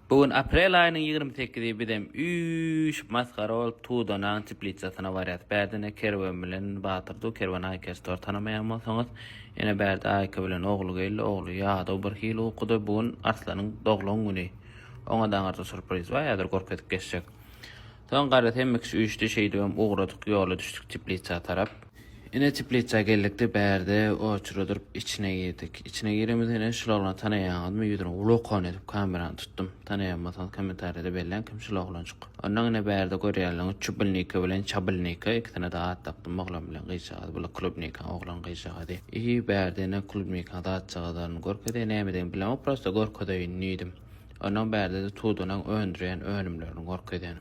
Bu gün aprel aýynyň ýigrimi sekizidi bizem üýşüp masgara bolup Tudanaň teplisasyna barýas bärde ine Kerwen bilen Batyr dur Kerwen Aýka Store tanamaýan bolsaňyz ine bärde Aýka bilen ogly geldi ogly ýadaw bir hili ukuda bu gün Arslanyň doglan güni oňa daňarda surpriz bar häzir gorkezip geçjek Soň gara temmikiş üýşdi, şeýdibem ugradyk, ýola düşdük teplitsa tarap. Ine, teplitsa geldik-de, bärde oçura durup, içine girdik. Içine giremizde, ine, şul oglany tanaýaňyzmy? Ýüzüne ulokon edip kamerany tutdum. Tanaýanbolsaňyz kommentariýada belläň, kim şul oglanjyk. Onnoň, ine, bärde görýänleriňiz Çubilniki bilen Çabilniki, ikisine-de at dakdym, oglan bilen gyzjagaz, bular Klubnikaň oglan, gyzjagazy. Ýi, bärde, ine, Klubnikaň zatjagazlaryny görkezýä, nämedegini bilemok, prosta görkezeýin diýdim. Ondan bärde-de Tudonyň öndürýän önümlerini görkezýän.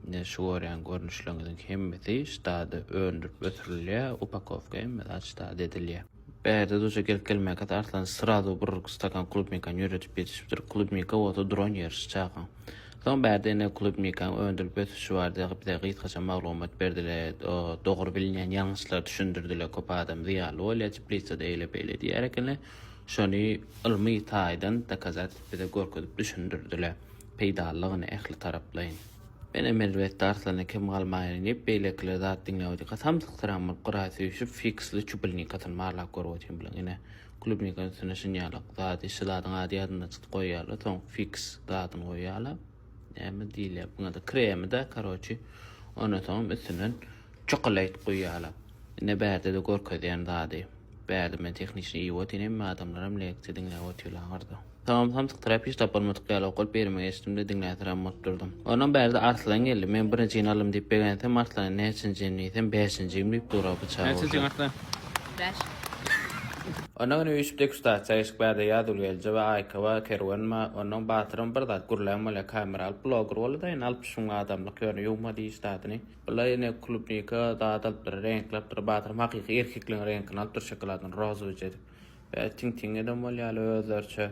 Ine, şu görýän görnüşleriňiziň hemmesi ştada öndürip ötürilýär, upakowka hemmesi aç ştada edilýär. Bärde duja gelip gelmäkäs Arslan srazu bir stakan klubnikany ýöredip ýetişipdir, klubnika bolsa duran ýeri şu çagaň. Soň bärde ine klubnikaň öndürip ötüşi barada bize gysgaça maglumat berdiler, dogry bilinýän ýalňyşlary düşündirdiler, köp adam zyýanly bolýar, teplitsada eýle-beýle diýýär ekenler. Şony ylmy taýdan dokazat bize görkezip düşündirdiler. Peýdalylygyny ähli taraplaýyn. Menem elbetde Arslana kem galmaýyn diýip beýlekiler zat diňläwdi. Kasam syksyragam bolup gyraý süýşüp fiksli çubilnikasyny barlap görüp otyryn bilen ine klubnikan üstüne şinýalak zady şu zadyň ady ýadymdan çykyp goýýarlar soň fiks zadyny goýýarlar. Näme diýilýär buňada kremida karoçi ondan soňam üstünden çokolade guýýarlar ine bärdede görkezýän zady bärde men tehniçni iýip otyryn hemme adamlaram leksiýa diňläp otyrlar aňyrda soňam samsykdyryp hiç tapalmadyk ýaly okalyp ýerime geçdimde diňläsirem bolup durdum ondan bärde arslan geldi men birinjini aldym diýip begensem arslan näçinjim diýsem bäşinjigim diýip dura biçara bolsa. Näçinjiň arslan? Bäş. Ondan öň üýşüp degustasiýa geçdik bärde Ýazgül Gelje we Aýkowa Kerwen ba ondan Batyram bir zat gürlän bolýa kamera alyp bloger boldy da indi alyp şuň adamlyk ýöne ýuwma diýiş zadyny bula indi klubnika zat alypdyr reňkli alypdyr Batyram hakyky erkekligiň reňkini alypdyr şokoladyny rozowyja edip bä tiň tiň eden bolýaly özleriçe.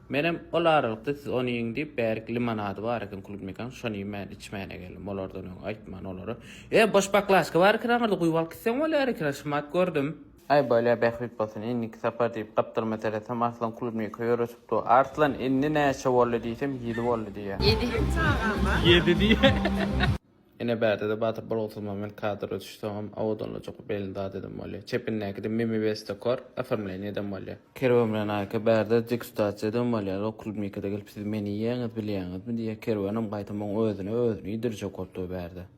Menem ol aralykda siz ony iýiň diýip, bärik limonady bar eken klubnikaň, şony iýmän, içmän-ä geldim. Olardan öň aýtman olara. E, boş baklažka bar eken aňyrda, guýup alyp gitseň bolýar eken, şumat gördüm. Aý, bolýa, bähbit bolsun, indiki sapar diýip, gapdalma seresem, Arslan klubnika ýöretip dur. Arslan, indi näçe boldy diýsem, ýedi boldy diýýä. Ýedi. Ýedi diýýä. Ine bärde-de Batyr Bolgusyzmammet kadr ötüşi soňam awadanlajak belli zat edem bolýa. Çepindäki-de Mimi Bestekor oformleniýa edem bolýa. Kerwen bilen Aýka bärde degustasiýa edem bolýa. Lok Klubnikada gelip siz meni iýýäňiz bilýäňizmi diýýä. Kerwenem gaýta muň özüne özüni iýdirjek bolup dur bärde.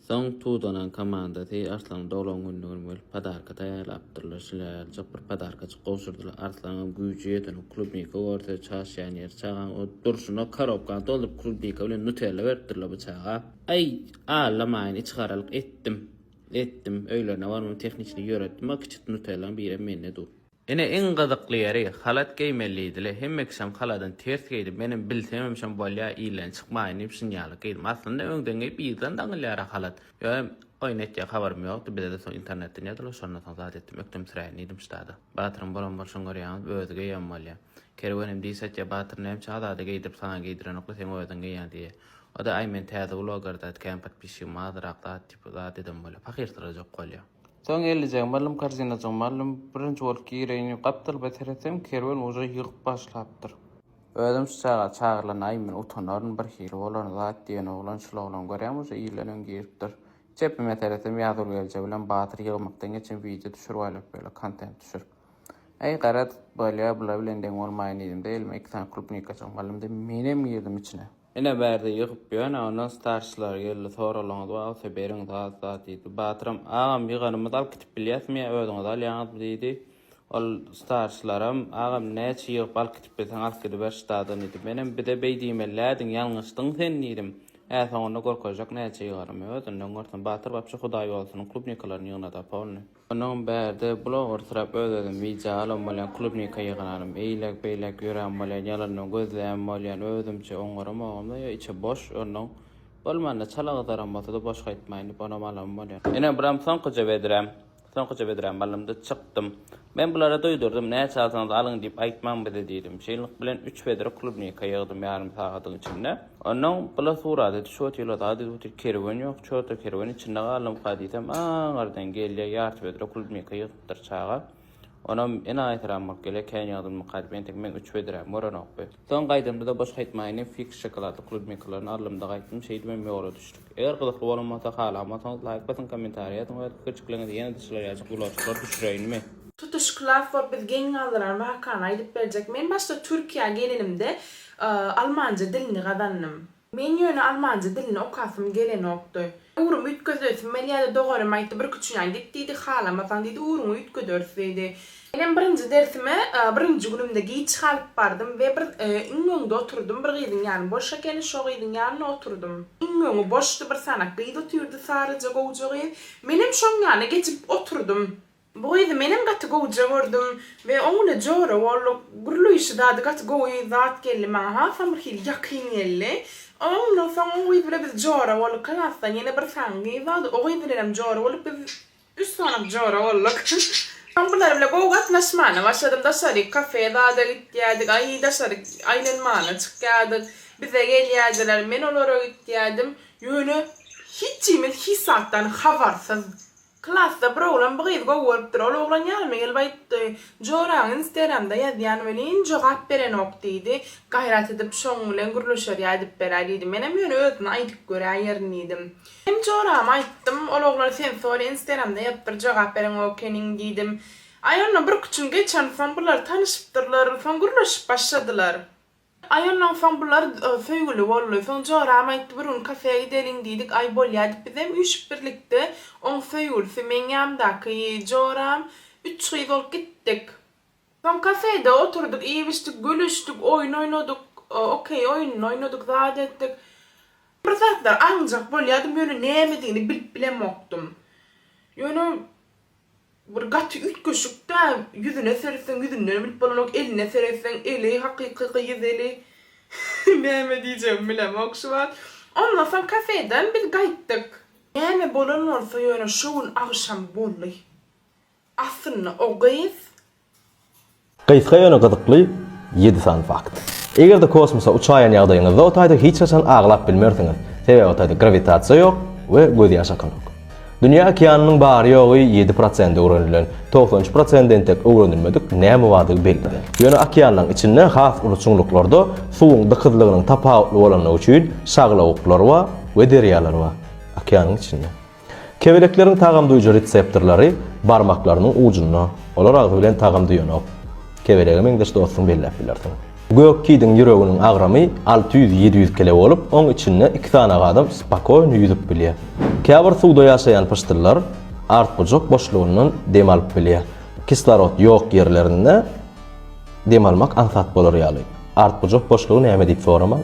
Soň Tudanan komandasy Arslan doglan gününe gelip podarka taýýarlapdyrlar. Şilealjak bir podarka Gowşurdylar. Arslanyňam güýji ýeten, o klubnika görse, çaşýan ýeri çagaň o durşuna korobkany dolduryp klubnika bilen nutella beripdirler bu çaga. Aý, aglamayyn, içigaralyk etdim. Etdim, öýlerine barmam tehniçni ýöretdim, a kiçit nutellanyň birem mende dur. Ine iň gyzykly ýeri, halat geýmelidile, hemme kişem haladan ters geýdi, menem bilsemem şom bolýa, ilden çykmaýyn diýip şinýalyk geýdim. Aslynda öňden geýip yzdan daňylýara halat. Ýöne oýun etjek habarym ýokdy, bize-de soň internetden ýazylyp, şondan soň zat etdim, ökdemsiräýin diýdim ştada. Batyryň bolan bolşuny görýäňizmi, özi geýen bolýa. Kerwen hem diýs etýä, Batyr näme üçin Azada geýdirip saňa geýdirenokly, seň özüň geýýäň diýýä. O-da, Aý men täze blogerda, kän podpisçigim azrak zat diýip zat eden bolýa, pahyrsyrajak bolýa. Soň ellijegimi aldym, korzinajygmy aldym, birinji bolup gireýin diýip gapdalba seretsem, Kerwen uje ýygyp başlapdyr. Özüm şu çaga çagyrlanaýyn men utanaryn bir hili bolaryn zat diýen oglan şul oglan görýäňmi uje ilden öň giripdir çepime seresem ýazgül gelje bilen batyr ýygmakdan geçen wideo düşürip aýlap ýöler kontent düşürip äý garaz bolýa bula bilen deň bolmaýyn diýdimde elime iki sany klubnikajyk malymdy menem girdim içine. Ine bärde ýygyp ýöne ondan starçylar geldi soralaňyz bolsa beriň zat zat diýdi. Batyram agam ýyganymyz alyp gitip bilýäsmi ýa özüňiz alýaňyzmy diýdi. Ol starçylaram agam näçe ýygyp alyp gitip bilseň alyp gidiber ştadan diýdi. Menem bize beý diýmelilädiň ýalňyşdyň sen diýdim. Ä soňunda görkezjek näçe ýyganymy özünden görsen Batyr wapşe hudaý bolsun klubnikalaryny ýygnada polny. Onuň bärde bulawursyrap öz-özüm wideo alan bolýan, klubnika ýygnanam, eýläk-beýläk ýörän bolýan, ýalandan gözleýän bolýan, özümçe oňaramogam-da, ýa içi boş, onuň, bolmanda çala gyzaram bolsa-da boş gaýtmaýyn diýip onam alan bolýan. Ine buram soňkuja bedräm. Soňkuja bedrämi aldym-da çykdym. Men bulara duýdurdym, näçe alsaňyz alyň diýip aýtmaň bize diýdim. Şeýlelik bilen üç wedre klubnika ýygdym ýarym sagadyň içinde. Onnoň bula surady di şo tilo zady zuti kerwen ýok çorta kerwen içinde galdym ka diýsem aňardan gelýä ýarty bedre klubnika ýygypdyr çaga onam ene aýsyranmak gelýä kän ýagdymmy ka diýip entek meň üç bedräm görenokdy. Soň gaýdamda-da boş gaýtmaýyndy fix şokoladly klubnikalaryny aldymda gaýtdym şeýdibem ýola düşdük. Eger gyzykly bolan bolsa halanmasaňyz laýk basyň kommentariý ýazyň we pikirjiklerňizi ýene-de şular ýaly gulaçyklar düşüreýinmi? Tutuş Klap we biz geň galdyran wakany aýdyp berjek. Men başda Türkiýä gelenimde Almanja dilini gazandym. Men ýöne almanja dilini okasym gelenokdy. Ugrumy üýtgezesim geldi ýa-da doganym aýtdy, bir küçüňden git diýdi, halamasaň diýdi, ugruňy üýtgederis diýdi. Menem birinji dersime birinji günümde giç galyp bardym we bir iň öňde oturdym, bir gyzyň ýany boş ekeni, şo gyzyň ýanyna oturdym. Iň öňi boşdy, bir sanak gyz otyrdy, saryja gowja gyz. Menem şoň ýanyna geçip oturdym. Bu gyzy menem gaty gowja gördüm we oň bile jora bolduk. Gürleýşi zady gaty gowy zat geldi maňa hasam bir hili ýakyn geldi. Ondan soň o gyz bile biz jora bolduk klasdan ýene bir sany gyz bardy o gyz bilenem jora bolduk biz üç sanak jora bolduk. Soň bular bile gowy gatnaşmana başladym daşaryk kafe zada gitýädik aý daşaryk aýlanmana çykýadyk bize gelýädiler men olara gitýädim ýöne hiçimiz hiç zatdan habarsyz Klasda bir oglan bu gyzy gowy görüpdir. Ol oglan ýanyma gelip aýtdy, Joraň Instagramda ýazýan welin, jogap berenok diýdi. Gaýrat edip şoň bilen gürleşerýä aýdyp beräý diýdi. Menem ýöne özüne aýdyp göräýerin diýdim. Hem jorama aýtdym, ol oglan sen sori Instagramda ýazypdyr, jogap bereňok ekeniň diýdim. Aý ondan birki çün geçen soň bular tanyşypdyrlar, soň gürleşip başladylar. Aý ondan soň bular söýgüli boldy. Soň Joram aýtdy, bir gün kafeýa gideliň diýdik. Aý bolýa diýip bizem üýşüp birlikde, oň söýgülisi, meň ýanymdaky Joram, üç gyz bolup gitdik. Soň kafeýde oturdyk, iýip-içdik, gülüşdik, oýun oýnadyk, okeý oýunyny oýnadyk, zat etdik. Bir zatlar aňjak bolýardym, ýöne nämedigini bilip bilemokdym. Ýöne Bir gaty üýtgeşik-dä, ýüzüne seretseň ýüzünden bilip bolanok, eline seretseň eli hakyky gyz eli. Näme diýjegimi bilemok şu wagt. Ondan soň kafeden biz gaýtdyk. Näme bolan bolsa ýöne şo gün agşam boldy. Aslynda o gyz Gysga ýöne gyzykly ýedi sany fakt. Eger-de kosmosa uçaýan ýagdaýyňyzda o taýda hiç haçan aglap bilmersiňiz, sebäbi o taýda grawitasiýa ýok we gözýaş akanok. Dünýä okeanynyň bary-ýogy ýedi prosent öwrenilen, togsan üç prosent entek öwrenilmedik näme bardygy belli däl. Ýöne okeanlaryň içinde has uly çuňluklarda suwuň dykyzlygynyň tapawutly bolandygy üçin şaglawuklar bar we derýalar bar. Okeanyň içinde. Kebelekleriň tagam duýujy reseptorlary barmaklarynyň ujunda. Olar agzy bilen tagam duýanok. Kebelege meňzeş dostuňy belläp bilersiň. Gök kidiň ýüreginiň agramy alty ýüz, ýedi ýüz kile bolup, oň içinde iki sany adam spokoýny ýüzüp bilýär. Käbir suwda ýaşaýan pyşdyllar artgujak boşlugyndan dem alyp bilýär. Kislorod ýok ýerlerinde dem almak aňsat bolar ýaly. Artgujak boşlugy näme diýip soramaň.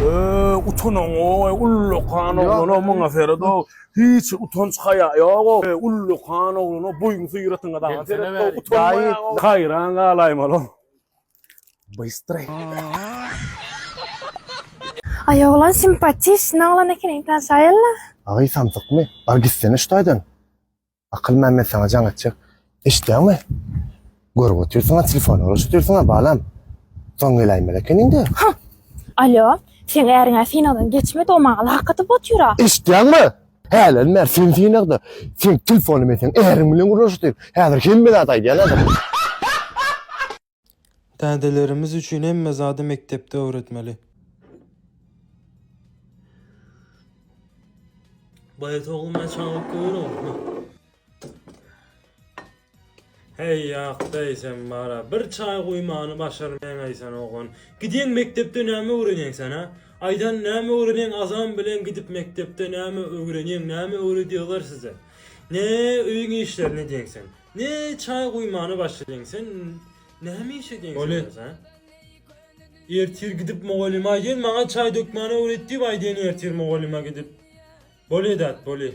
Ööö utanaň oy ullakan oglan o muňa seret o hiç utanç haýa ýok o ullakan oglan o boýuň syýratyňa daňa seret o utanmaýaň o haýran galaýmaly o bystre. Aý oglan simpatiş ne oglan ekeniň tanşaýylla. Agy samsykmy? Bar gitsene şu taýdan. Akyl Mämmet saňa jaň etjek. Eşitýäňmi? Görüp otyrsyň-a, telefona garaşyp otyrsyň-a, balam. Soň geläýmeli ekeniň-dä. Hah! Alýo, seň äriň-ä synagdan geçmedi-ow, maňa lak atyp otyr-a. Eşitýäňmi? Hälerim bäri sen synagda. Seň telefonyň men seň äriň bilen gürleşip otyryn. Häzir hemme zady aýdýan-a. Dädelerimiz üçin hemme zady mekdepde öwretmeli. Baýat ogly men çagyryp görogmy? Heý ýakdaý sen bara bir çaý guýmany başarmaýaňaýsan oglan. Gidýäň mekdepde näme öwrenýäň sen ha? Aýdan näme öwrenýäň azan bilen gidip mekdepde näme öwrenýäň näme öwredýalar size? Ne öýüň işlerini edýäň sen? Ne çaý guýmana başladyň sen näme iş edýäň sen öz ha. Ertir gidip mugallyma aýdýan maňa çaý dökmäni öwret diýip aýdýan ertir mugallyma gidip. Bolýa dat bolýa.